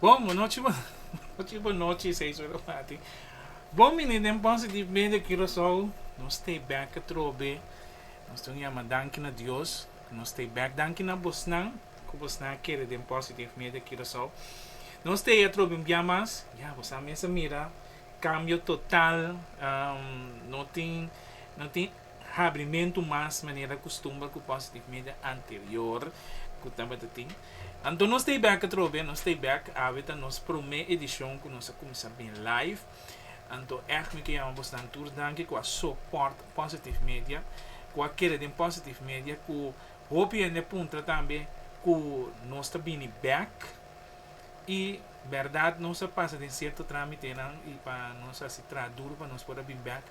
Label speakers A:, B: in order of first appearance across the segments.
A: Bon, bonochi bonochi bonochi seis ora parti. Bon bini den Ponce di Medio Curaçao, nos stay back atrobe, nos ta un yama danki na Dios, nos stay back danki na bosnan cu bosnan a kere den Ponce di Medio Curaçao, nos stay atrobe un bia mas, ya bo sa mester mira cambio total, no tin no tin. habrimentu mas manera kustumber ku Positive Media anterior ku tabata tin. Anto nos ta e bek atrobe, nos ta e bek, awe ta nos promé edishon ku nos a kuminsá bin live. Anto ègt mi ke yama bos nan tur danki ku a sopòrt Positive Media, ku a keda den Positive Media, ku hopi hende a puntra tambe ku nos ta bini bek. y berdad nos a pasa den cierto tramitenan y pa nos haci traha duro pa nos por a bin bek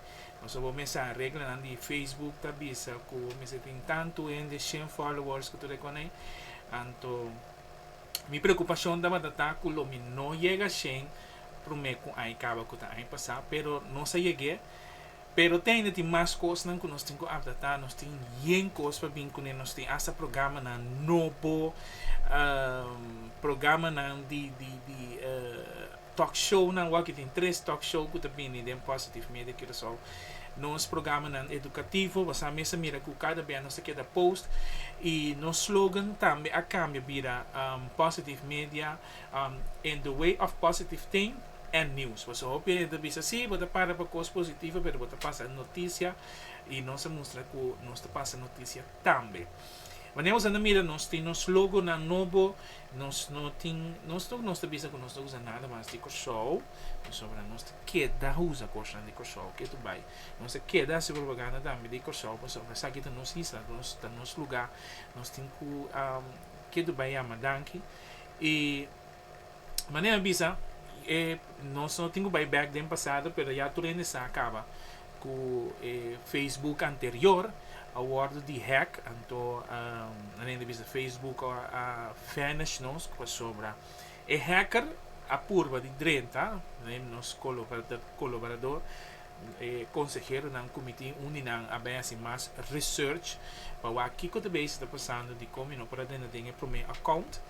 A: nos a wou mester a reglanan di Facebook ta bisa cu mester tin tanto hende shen followers cu tur e con ey anto mi preocupacion tabata ta cu lo mi no yega shen prome cu ay caba cu ta ay pasa pero nos a yegue Pero teinde tin mas kosnan ku nos tin ku apdatá, nos tin yen kos pa bin kuné, nos tin asta programanan nobo, programanan di di di talk shownan wak, e tin tres talk show ku ta bini den Positive Media Curacao, nos programanan edukativo, basa mes a mira ku kada bia nos ta keda post i nos slogan tambe a kambia bira Positive Media, in the way of positive thing. en nius. Paso hopi hende ta bisa, sí, bo ta para pa kos positivo, pero bo ta pasa noticia y nos a mustra cu nos ta pasa noticia tambe. Wanneer nos a na mira, nos tin nos logonan nobo, nos no tin, nos no, nos ta bisa cu nos no ta usa nada mas di Kòrsou, pasobra nos ta keda usa kosnan di Kòrsou, ke ta bai. Nos ta keda hasi propaganda tambe di Kòrsou, pasobra esaki ta nos isla, ta nos lugá, nos tin cu ke ta bai yama danki. Y. Manera mi bisa e nos no tin cu bay back den pasado pero ya tur hende sa caba cu e Facebook anterior a wordo di hack anto nan hende bisa Facebook a vanish nos pasobra e hacker a purba di drenta nos coloborador e conseheronan cu mi tin un di nan a bay haci mas research pa wak kico ta bay esun ta pasando di como mi no por a drenta den e prome account.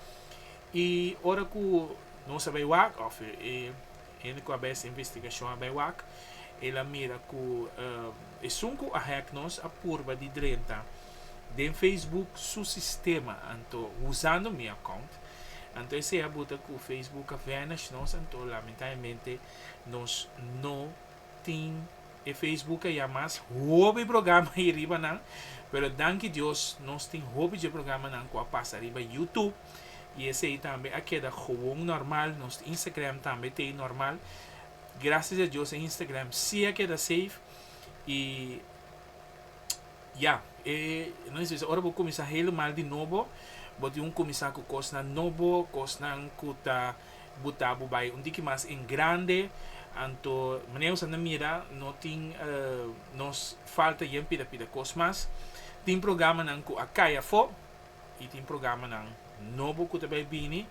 A: I ora ku nos a bai wak, òf e hende ku a bai e investigashon a bai wak, el a mira ku esun ku a hèk nos a purba di drenta den Facebook su sistema, anto usando mi akount. Anto esei a buta ku Facebook a vanish nos, anto lamentablemente nos no tin e Facebook ei a mas. Hopi programa i riba nan, pero danki Dios nos tin hopi dje programanan ku a pasa riba YouTube. Y esey tambe a keda gewoon normal. Nos Instagram tambe ta ey normal. Gracias a Dios e Instagram si a keda safe. Y ya, e no es bisa ora bo cuminsa helemal di nobo, bo tin un cuminsa cu cosnan nobo, cosnan cu ta buta bo bay un tiki mas en grande. Anto manera nos a na mira no tin nos falta yen pida pida cos mas. Tin programanan cu a cay afo. Y tin programanan nobo cu ta bay bini.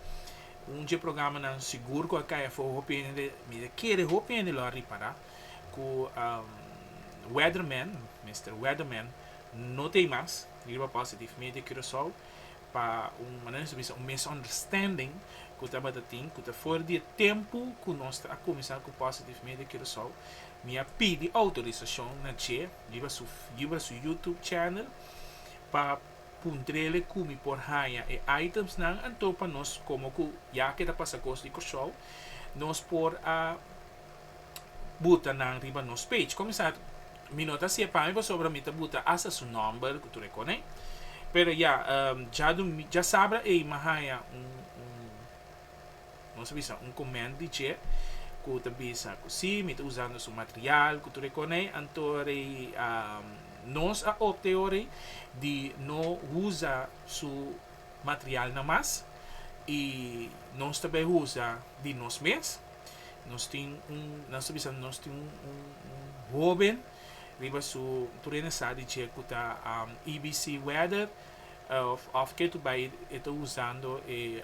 A: Un dje programanan sigur cu a cay afo hopi hende, mi ta kere hopi hende lo a ripara cu Weatherman, Mister Weatherman, no ta ey mas riba Positive Media Curacao pa un, manera nos ta bisa, un misunderstanding cu tabata tin, cu ta for di e tempo cu nos ta a cuminsa cu Positive Media Curacao. Mi a pidi autorisacion na dje riba su, riba su YouTube channel pa. Puntrele cu mi por haña e itemsnan anto pa nos como cu ya ke ta pasa cos di Kòrsou nos por a buta nan riba nos page. Comenzá mi no ta hacié pami pasobra mi ta buta hasta su nomber cu tur e conen. Pero ya, djaduming dja sabra ey mi a haña un. Nos a bisa un comment di dje cu ta bisa cu si, mi ta usando su material cu tur e conei, anto nos a opte ori di no usa su materialnan mas y nos ta bay usa di nos mes. Nos tin un, nan ta bisa nos tin un hoben riba su, tur ene sa di dje cu ta EBC Weather. Of of ke tu bai e ta usando e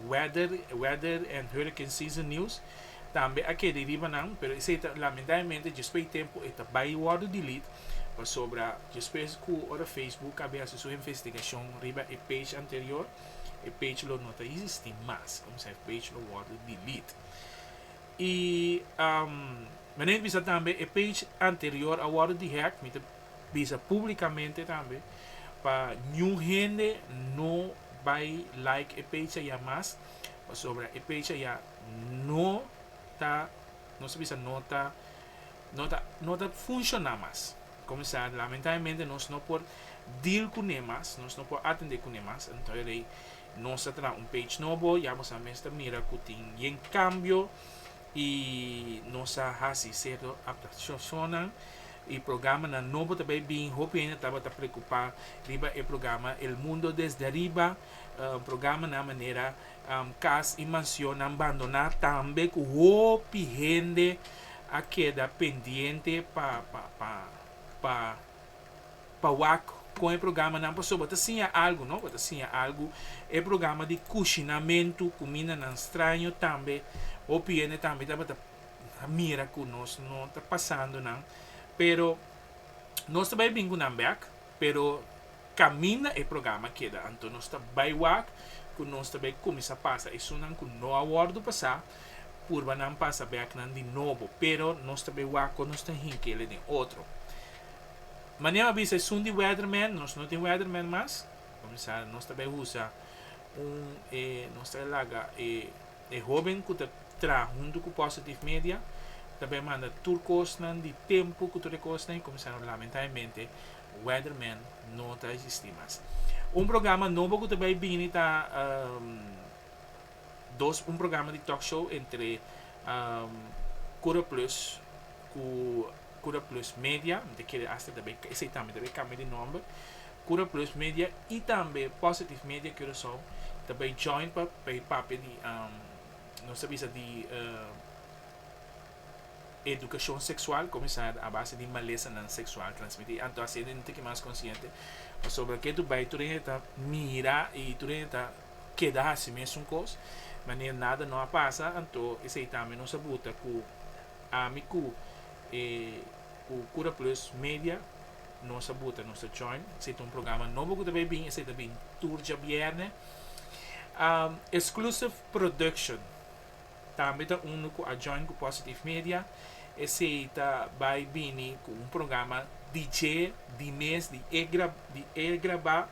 A: weather weather and hurricane season news tambe a keda riba nan pero esei ta lamentablemente djespre di tempo e ta bai wordo delete pasobra djespre ku ora facebook a bin hasi su investigacion riba e page anterior e page lo no ta existi mas kòmsa e page lo wordo delete y mi ta bisa tambe e page anterior a wordo dehack mi ta bisa públikamente tambe pa niun hende no bai like e pecha ya mas, pasobra e pecha ya no ta, nos ta bisa no ta, no ta, no ta funshoná mas. Kuminsá lamentablemente nos no por deal kuné mas, nos no por atendé kuné mas, anto e rei nos ta traha un page nobo, ya boso a mes ta mira ku tin bien kambio y nos a haci cierto adaptacionnan y programanan nobo ta bay bin, hopi hende tabata preocupa riba e programa El Mundo Desde Arriba, programanan manera cas y mansionnan bandona tambe cu hopi hende a keda pendiente pa. Pa wak kon e programanan pasobra ta siña algu no, bo ta siña algu. E programa di kushinamentu kumindanan straño tambe hopi hende tambe tabata mira ku nos no ta pasando nan pero nos ta bai bin ku nan bek pero kaminda e programa keda anto nos ta bai wak ku nos ta bai kuminsá pasa esunnan ku no a wòrdu pasá purbanan pasa bèknan di nobo pero nos ta bai wak kon nos ta hinkele den otro. Manera a bisa esun di weatherman, nos no tin weatherman mas, kumsa nos ta bai usa un e nos ta laga e hoben ku ta traha huntu ku Positive Media ta bai manda tur kosnan di tempu ku tur e kosnan i kumsa lamentablemente weatherman no ta existi mas. Un programa nobo ku ta bai bini ta dos un programa di talkshow entre Curaplus ku Cura Plus Media, mi ta kere hasta ta bay, esey tambe ta bay cambia di nomber, Cura Plus Media y tambe Positive Media Curacao ta bay join pa bay papia di nos ta bisa di educacion sexual comenzar a base di malesanan sexual transmiti, anto haciendo e tiki mas consciente, pasobra ke tur bay tur hende ta mira y tur hende ta keda haci mesun cos, manera nada no a pasa, anto esey tambe nos a buta cu. Ami cu e cu Cura Plus Media nos a buta, nos ta join. Si ta un programa nobo cu ta bay bin, esey ta bin tur djabierne. Um, Exclusive Production tambe ta uno cu a join cu Positive Media. Esey ta bay bini cu un programa di dje, di mes, di e grab, di e graba.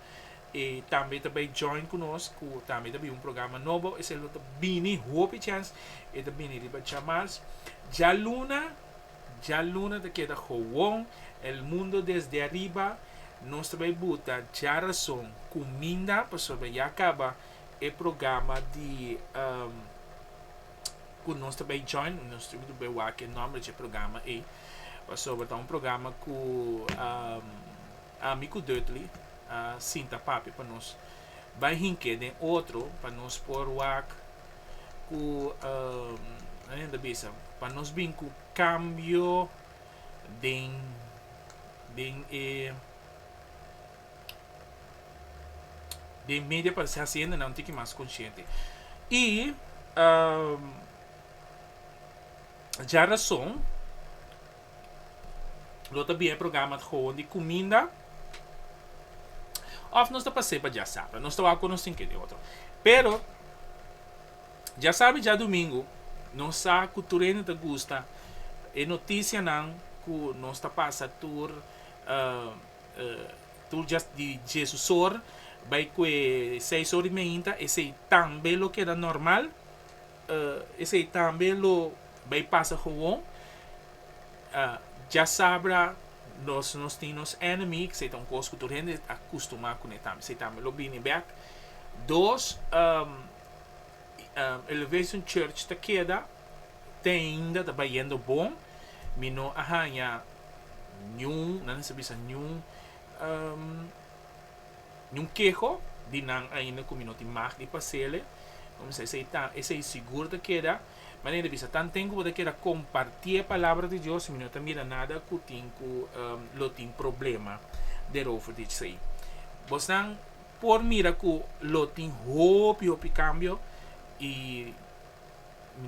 A: E tambe ta bay join cu nos cu tambe ta bay un programa nobo, esey lo ta bini hopi chens, e ta bini riba djamas. Djaluna, djaluna ta keda gewoon, el mundo desde ariba, nos ta bay buta djarason cuminda pasobra ya caba e programa di cu nos ta bay join, nos ta bay wak e nomber dje programa ey, pasobra ta un programa cu. Ami ku Dudley a sinta papia pa nos bai hink'é den otro pa nos por wak ku nan e ta bisa pa nos bin ku kambio den den e den media pa hasienda nan tiki mas konshente i dja rason. Lo ta bia e programa ta hoon di kuminda òf nos ta pas'é pa djasabra. Nos ta wak kon nos tin ke di otro. Pero djasabra i djadumingu nos sa ku tur hende ta gusta e notisianan ku nos ta pasa tur tur dja di Jesus or bai ku e seis or i meinta. Esei tambe lo keda normal. Esei tambe lo bay pasa gewoon. Dja sabra nos nos tin nos enemy, cu esei ta un cos cu tur hende a custuma cune tambe. Esei tambe lo bini bek. Dos, Elevation Church ta keda teinda ta bayendo bon. Mi no a hanja niun, nan a bisa niun. Nun keho di nan ainda ku mi no tin mag di pasele, kumsa esei ta, esei sigur ta keda. Mi ainda bisa tanten ku bo ta keda kompartí e palabra di Dios, mi no ta mira nada ku tin ku lo tin problema derover di esei. Bosnan por mira ku lo tin hopi hopi kambio i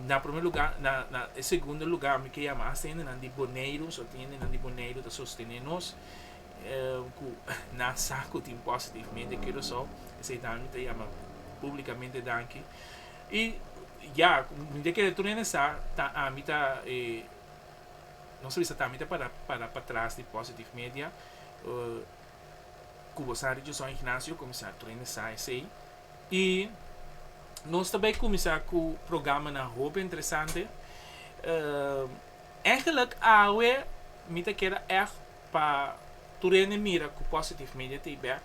A: na promé lugá, na na e segundo lugá mi ke yama hasta hende nan di Boneiru, su hende nan di Boneiru ta sostené nos. ku nan sa ku tin positivamente ke Rosou, esei tambe mi ta yama publikamente danki. I ya, mi ta kere tur hende sa, ta ami ta e, nos a bisa ta ami ta para para patras di Positive Media, ku bo sa Richardson Ignacio kuminsá, tur hende sa esei. I nos ta bai kuminsá ku programanan hopi interesante. Eigenlijk awe mi ta kere èg Pa tur hende mira ku Positive Media ta e bek.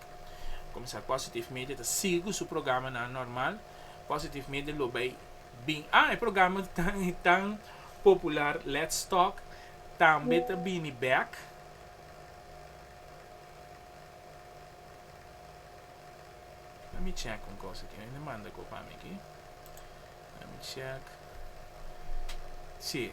A: Kuminsá Positive Media ta sigu su programanan normal. Positive Media lo bai bin. Ah, e programa tan popular Let's Talk tambe ta bini bek. Lèt mi chèk un kos aki. Hende manda ko pa mi aki. Lèt mi chèk. Sí.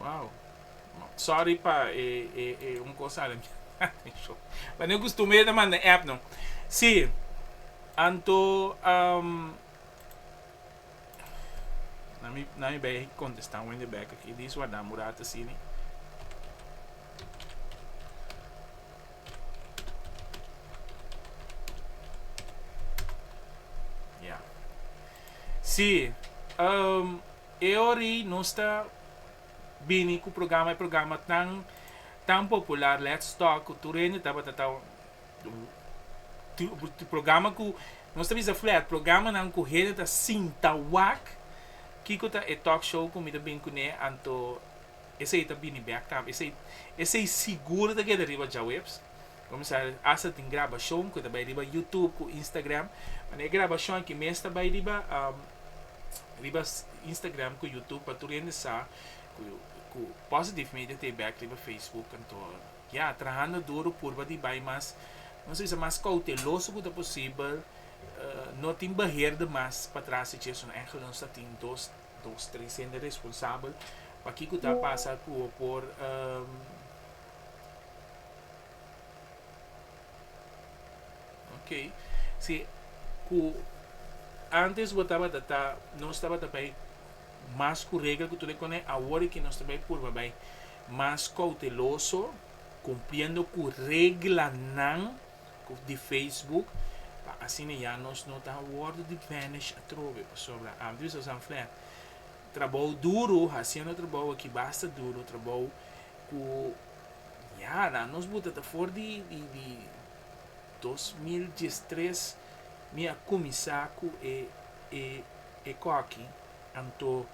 A: Wow. Sorry pa e e e un cosa ada mi a atencion. But no costumbre ta manda app no. Si, anto um na mi na mi bay contesta wende back aki this one da mura ta sini. Yeah. Si, um. E ori nos ta bini ku programa e programa tan tan popular Let's Talk ku tur hende tabata ta programa ku nos ta bisa flat programanan ku hende ta sinta wak kiko ta e talk show ku mi ta bin kuné anto esei ta bini bèk tambe esei esei sigur ta keda riba djaweps. Komisaris Asa tin grabashon ku ta bai riba Youtube ku Instagram, ma e grabashon aki mes ta bai riba riba Instagram ku Youtube pa tur hende sa ku Positive Media ta e bek riba Facebook kantoor ya trahando duru purba di bai mas nos a bisa mas kouteloso ku ta posibel no tin beheer di mas pa tras di chesnan Angel nos a tin dos dos tres hende responsabel pa kico ta pasa ku bo por. Ok, si ku antes bo tabata ta, nos tabata bai mas ku regla ku tur e kon'é, awor e ki nos ta bai purba bai mas kouteloso, kumpliendo ku reglanan di facebook, pa asina ya nos no ta wòrdu di vanish atrobe, pasobra antes wi sa sa flat. Trabou duru, hasiendo trabou aki basta duru, trabou Ku yara nos buta ta for di dos mil diestres mi a kuminsá ku e kòki. Anto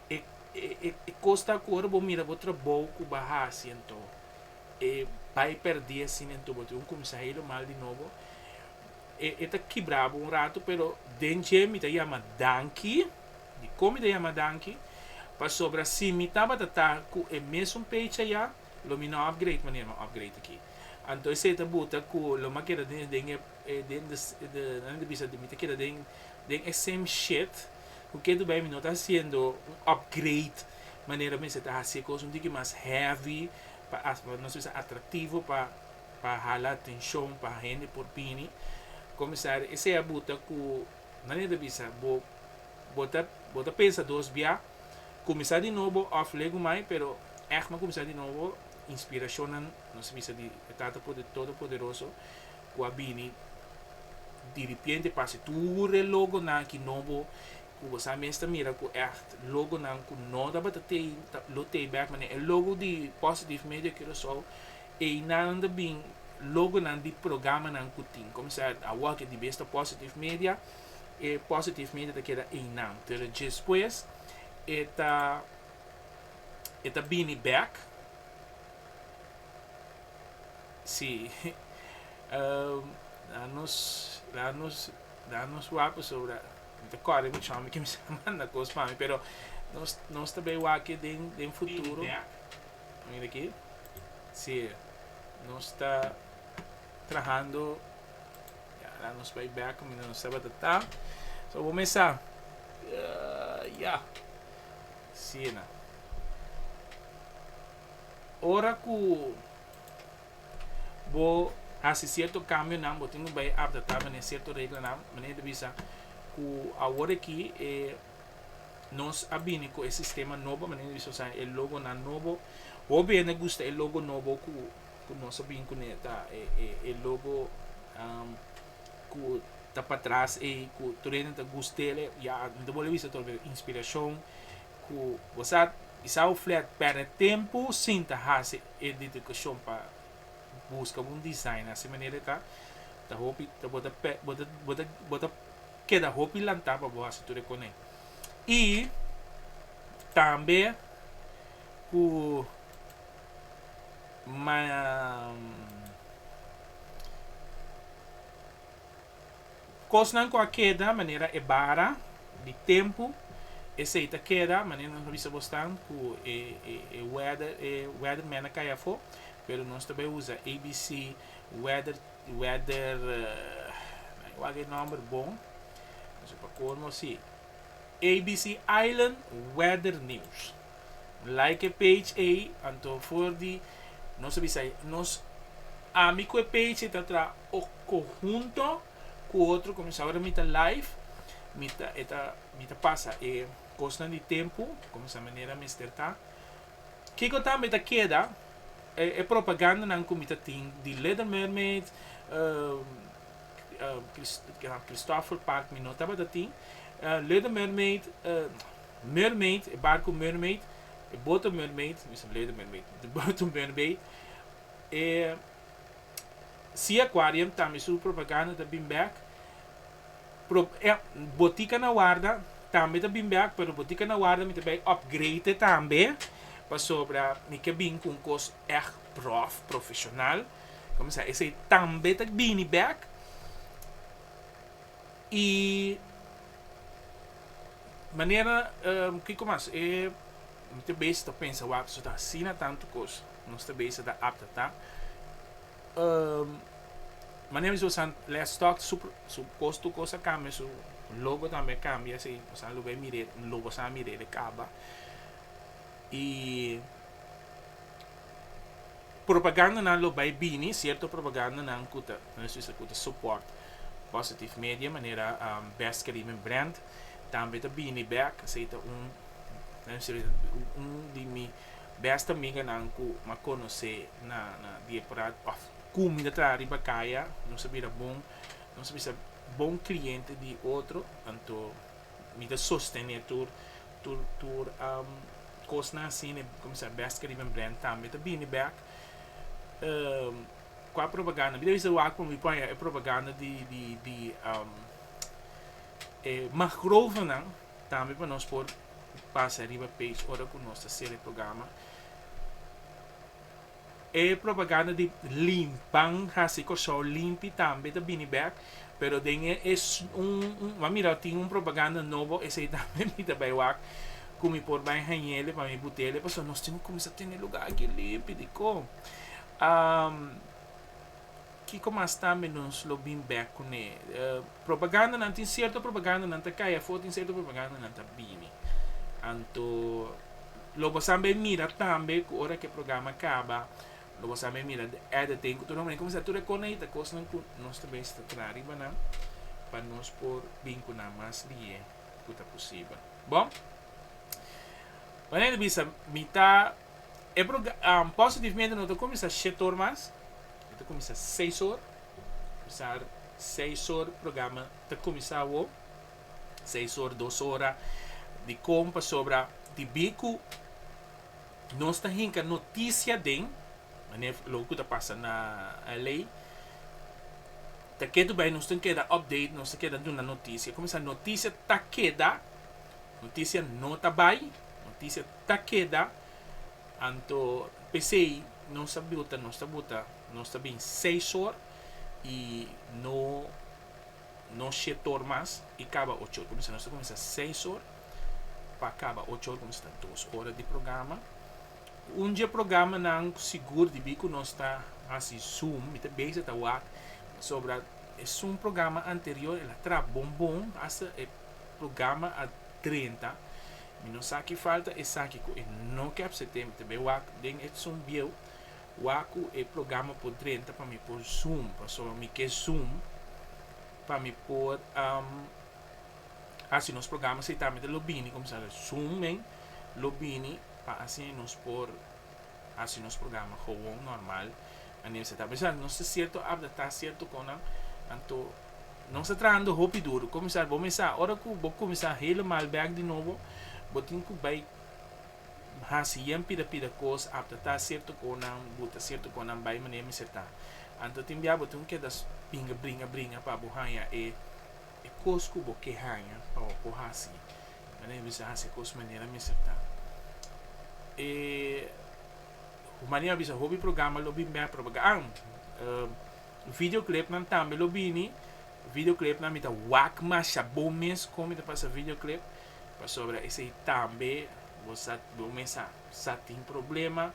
A: e kosta ku ora bo mira bo trabou ku bo a hasi anto e bai pèrdí asina anto bo ta wun kuminsá helu mal di nobo. E ta kibra bo un ratu pero den dje mi ta yama danki, dikon mi ta yama danki? Pasobra si mi tabata ta ku e mesun page aya lo mi no upgrade manera mi a upgrade aki. Anto esei ta buta ku lo mi a keda den den e den de nan e ta bisa mi ta keda den den e same shit ku ke tur bai mi no ta hasiendo un upgrade manera mester ta hasié kos un tiki mas heavy pa nos bisa atractivo pa pa hala atenshon pa hende por bini komisario esei abuta ku nania ta bisa bo bo ta bo ta pensa dos bia kuminsá di nobo òf legu mai pero ègma kuminsá di nobo inspirashonnan nos a bisa di e Tata Todopoderoso ku a bini diripiente pa hasi tur e logonan aki nobo ku bo sa mes ta mira ku ègt logonan ku no tabata tei lo tei bèk manera e logo di Positive Media Curaçao Einan ta bin logonan di programanan ku tin kuminsá awa ke dibes ta Positive Media, e Positive Media ta keda einan. Pero djespues e ta e ta bini bèk, si, la nos la nos la nos wak pasobra mi ta kòrè mi chòm ke mi sa manda kos pa mi, pero nos nos ta bai wak ke den futuro. Mira aki, si nos ta trahando, ya la nos bay bek kumida nos tabata ta, so bo mesa, ya, asina. Ora ku bo hasi sierto kambionan bo tin ku bay apdatá manera sierto reglanan, manera ta bisa ku awor aki e. Nos a bini cu e sistema nobo manera di bisa sabi e logo nan nobo. Hopi hende gusta e logo nobo cu cu nos a bin cu ne ta e e e logo um cu ta patras ey cu tur hende ta gust del e ya mi ta bolbe bisa tur hende inspiracion cu bo sa kisa bo flat perde tempo sin ta haci e dedicacion pa busca un design asi manera e ta ta hopi bo ta bo ta bo ta. keda hopi lanta pa bo hasi tur e kone. Y tambe cu cosnan cu a keda manera e bara di tempo esey ta keda manera nos a bisa bo staan cu e weather e weather man a cay afo pero nos ta bay uza ABC weather. Di weather nan ke wak e nomber bon so pa colmo si abc island weather news like e page ey anto for di nos a bisa nos ami cu e page ey ta traha oco hunto cu otro como esaki ora mi ta live mi ta mi ta pasa e cosnan di tempo como sa manera mester ta Kiko tambe ta keda e propagandanan ku mi ta tin di Little Mermaid, Christopher Park mi no tabata tin, Little Mermaid, Mermaid, e barku Mermaid, e boto Mermaid, mi sa Little Mermaid, e boto Mermaid, e Sea Aquarium tambe su propaganda ta bin bèk. Prop eh botica na warda tambe ta bin bek pero botica na warda mi ta bay upgrade e tambe pasobra mi ke bin cu un cos echt prof, profesional coma sa esey tambe ta bini bek y manera kico mas eh mi ta bes ta pensa wak nos ta asina tanto cos nos ta bes ta apta ta. Mane mi su san les stock su su cos tur cos a cambia su logo tambe cambia si osa lo be mire logo sa mire de caba y propaganda nan lo bay bini cierto propaganda nan cu ta nan su esaki cu ta support positive media manera best cariben brand tambe ta bini back esey ta un un di mi Bèsta amiganan ku m'ha konosé na Diepraat òf ku mi ta traha riba kaya, nos a bira bon, nos a bisa bon kliente di otro, anto mi ta sostené tur tur kosnan asina i kuminsá bèska riba mi brand tambe ta bini bèk ku a propaganda. Mi ta bisa wak pa mi por haña e propaganda di di di e Magrovenen. Tambe pa nos por pasa riba page ora cu nos ta ser e programa. E propaganda di limpan haci Corsou limpi tambe ta bini bek, pero den e es un m'a mirau tin un propaganda nobo esey tambe mi ta bay wak cu mi por bay hañele pa mi butele pasobra nos tin cu cuminsa tene lugar aki limpi dicó. Kiko mas tambe nos lo bin bek kuné? Propagandanan, tin sierto propagandanan ta kai afó, tin sierto propagandanan ta bini. Anto lo bo san bai mira tambe ku ora ku e programa kaba lo bo san bai mira di editing ku tur hombrenan kuminsá tur a konekta kosnan ku nos ta mester ta traha riba nan pa nos por bin ku nan mas di'é ku ta posibel. Bon, Juanita bisa mi ta. E program Positivamente no ta cuminsa shetor mas, e ta cuminsa seisor, pesar seisor programa ta cuminsa awo, seisor dos ora dicon pasobra di bico nos ta hinca noticia den mane loke cu ta pasa na LA ta ketu bay nos tin keda update nos tin keda duna noticia cuminsa noticia ta keda noticia no ta bay noticia ta keda, anto p'esei nos a buta, nos ta buta, nos ta bin seis or i no no shete or mas i kaba ocho or, kumsa nos ta kuminsá seis or pa kaba ocho or kumsa ta dos ora di programa. Un dje programanan sigur di bi ku nos ta hasi zoom, mi ta bisa ta wak pasobra e zoom programa anterior el a traha bon bon hasta e programa a drenta. Mi no sa ki falta esaki ku e no kep setem te be wak den e Zoom bieu wa ku e programa por drenta pa mi por zoom paso mi ke zoom pa mi por hasi nos programa seitamente lo bini kumsa zoom men lo bini pa asina nos por Hasi nos programa gewoon normal. Anel sa ta bisa, Nos ta sierto abda, ta sierto konan. Anto nos ta trahando hopi duru. Komisar, bo mesa ora ku bo kuminsá helemal bèk di nobo, bo tin ku bai hasi yen pida pida kos abda. Ta sierto konan bu ta sierto konan bai manera mester ta. Anto tin bia bo tin ku keda pinga bringa bringa pa bo haña e kos ku bo ke haña pa bo por hasi. Nan a bisa hasi cos manera mester ta. E humania a bisa hopi programa lo bin bek, pero bagaan. Video clipnan tambe lo bini, video clipnan mi ta wak masha bon mes con mi ta pasa video clip pasobra esey tambe bo sa bo mes a sa tin problema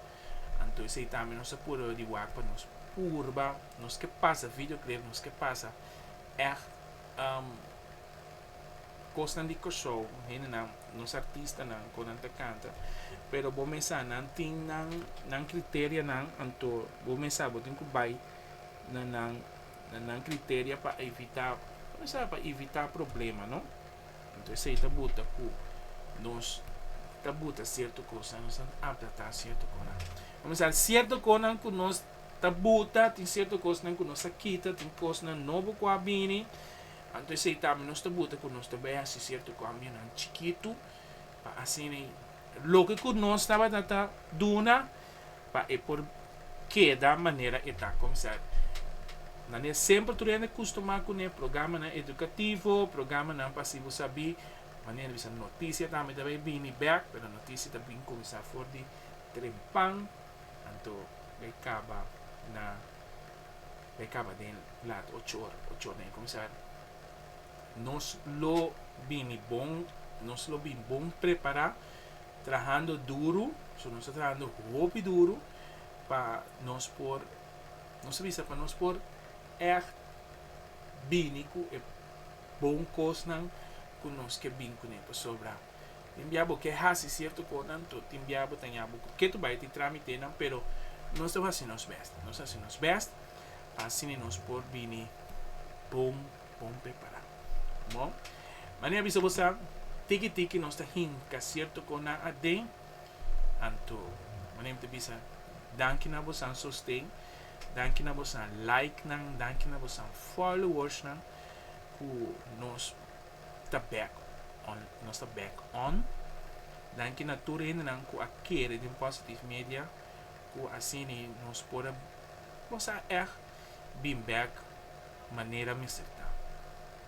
A: anto esey tambe nos a purba di wak pa nos purba nos ke pasa video clip nos ke pasa echt. Kosnan di Kòrsou, hendenan, nos artistanan ku nan ta kanta, pero bo mes sa nan tin nan nan kriterianan, anto bo mes sa bo tin ku bai na nan na nan kriteria pa evitá, bo mes sa pa evitá problema, no? Anto esei ta buta ku nos ta buta sierto kosnan, nos ta adaptá sierto kosnan. Bo mes sa sierto kosnan ku nos ta buta, tin sierto kosnan ku nos ta kita, tin kosnan nobo ku a bini. Anto esei tambe nos ta buta ku nos ta bai hasi sierto kambianan chikitu pa asina loke ku nos tabata ta duna pa e por keda manera e ta konsá. Nan e semper tur hende kustumá ku ne programanan edukativo, programanan pa si bo sa bi manera bisa notisia tambe ta bai bini bèk pero notisia ta bin konsá for di trempan anto bai kaba na e kaba den lat ocho ora ocho ora na e kuminsá nos lo bini bon nos lo bin bon prepará trahando duru so nos ta trahando hopi duru pa nos por nos a bisa pa nos por ègt bini ku e bon kosnan ku nos ke bin kuné pasobra. Tin bia bo ke hasi sierto kosnan, to tin bia bo ta ña bo ku ke to bai tin trámitenan, pero nos deb hasi nos bèst. Nos hasi nos bèst pa asina nos por bini bon bon prepará. Bo, mane a bisa bo sa, tiki tiki nos ta hinka sierto kosnan aden, anto mane mi ta bisa danki na bosan sosten, danki na bosan like nan, danki na bosan followers nan ku nos ta back on nos ta back on danki na tur hendenan ku a kere den positive media ku asini nos por a bosa echt bin back manera mester ta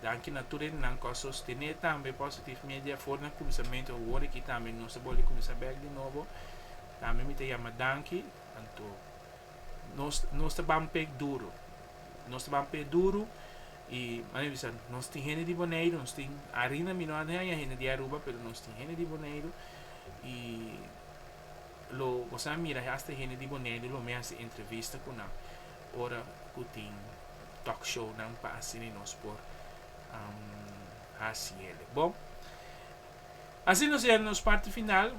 A: danki na tur hendenan ku a sostene tambe positive media for den kuminsamentu awor aki tambe nos ta bolbe kuminsá back di nobo tambe mi ta yama danki anto. Nos nos ta ban pek duru nos ta ban pek duru y manera bisa nos tin hende di Boneiru nos tin arina mi no a haña hende di Aruba pero nos tin hende di Boneiru y lo boso a mira hasta hende di Boneiru lo mi a hasi entrevista ku nan ora ku tin talk show nan pa asina nos por hasi el bo. Asina nos yega nos parti final,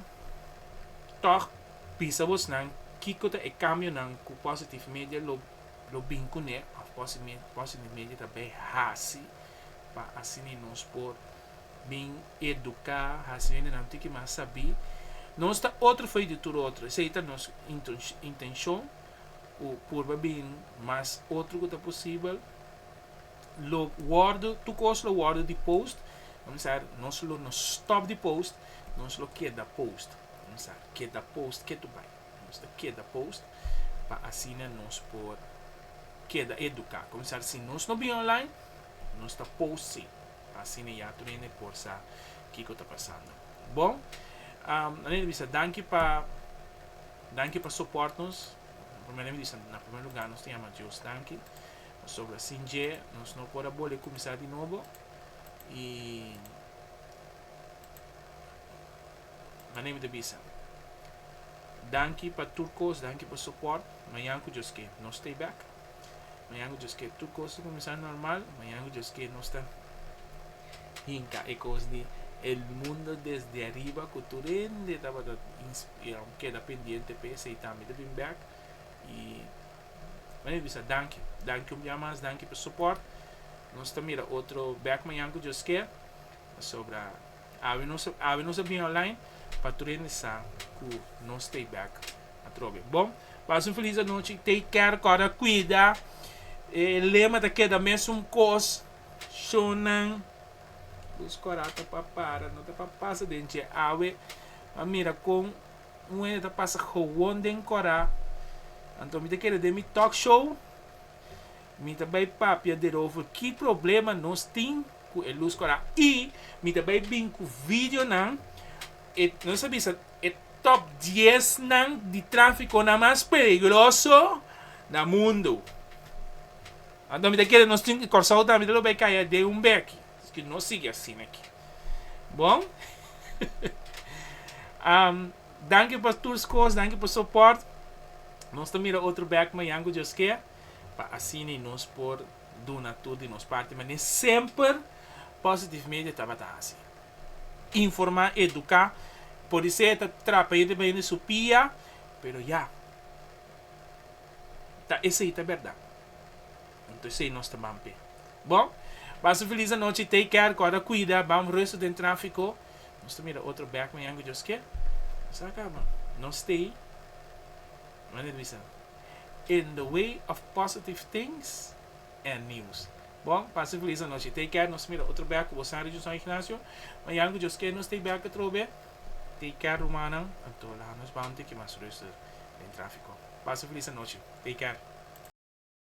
A: tòg bisa bosnan kiko ta e kambionan ku Positive Media lo bin kuné òf Positive Media ta bai hasi pa asina nos por bin eduká, hasi hendenan tiki mas sabí. Nos ta otro fo'i di tur otro, esei ta nos intenshon ku purba bin mas otro ku ta posibel. lo wordo tur cos lo wordo di post comenzar nos lo no stop di post nos lo keda post comenzar keda post ke tu bay nos ta keda post pa asina nos por keda educa comenzar si nos no bin online nos ta post si pa asina ya tur hende por sa kico ta pasando bon nan e bisa danki pa danki pa support nos na primer lugar nos ta yama Dios danki. Pasobra sin dje nos no por a bole kuminsá di nobo, i manera mi ta bisa, danki pa tur kos, danki pa sopòrt, mañan ku Dios ke nos stay back, mañan ku Dios ke tur kos ta kuminsá normal, mañan ku Dios ke nos ta hinka e kos di el mundo desde ariba ku tur hende tabata keda pendiente p'es ei tambe ta bin back, i M'a mi bisa danki. Danki un bia mas, danki pa soport. Nos ta mira otro bek mañan ku Dios ke. Pasobra awe nos a awe nos a bini online pa tur hende sa ku nos t'ei bek atrobe. Bon, pasa un felis anochi i take care kòrda kuida. E lema ta keda mesun kos shownan Luz Kòrata pa para no ta pa pasa den dje awe. M'a mira kon Un hende ta pasa gewoon den Cora, anto mi ta keda den mi talk show mi ta bay papia derover ki problema nos tin cu e luz Cora y mi ta bay bin cu videonan e nos ta bisa e top diesnan di traficonan mas peligroso na mundo, anto mi ta keda nos tin Corsou tambe ta lo bay caya den un beki. Esaki no sigui asina aki. Bon. Danki pa tur scos, danki pa soport. Nos ta mira otro bek mayan cu Dios ker, pa asina nos por duna tur di nos parti mane semper Positive Media tabata hasi. Informa, educa, pudi ser ta trapa hende pa hende su pia, pero ya. Ta esey ta berdad. Anto esei nos ta ban p'e. Bon, pasa filis anochi, take care, kòrda kuida, bam rustu den trafiko, nos ta mira otro bèk mañan ku Dios kier. Nos a kaba. Nos stay manera bisa in the way of positive things and news. Bon, pasa filis anochi, take care, nos ta mira otro bèk ku bo San Region San Ignacio, mañan ku Dios kier nos stay bèk atrobe, take care rumannan, anto laha nos bam tiki mas rustu den trafiko. Pasa filis anochi, take care.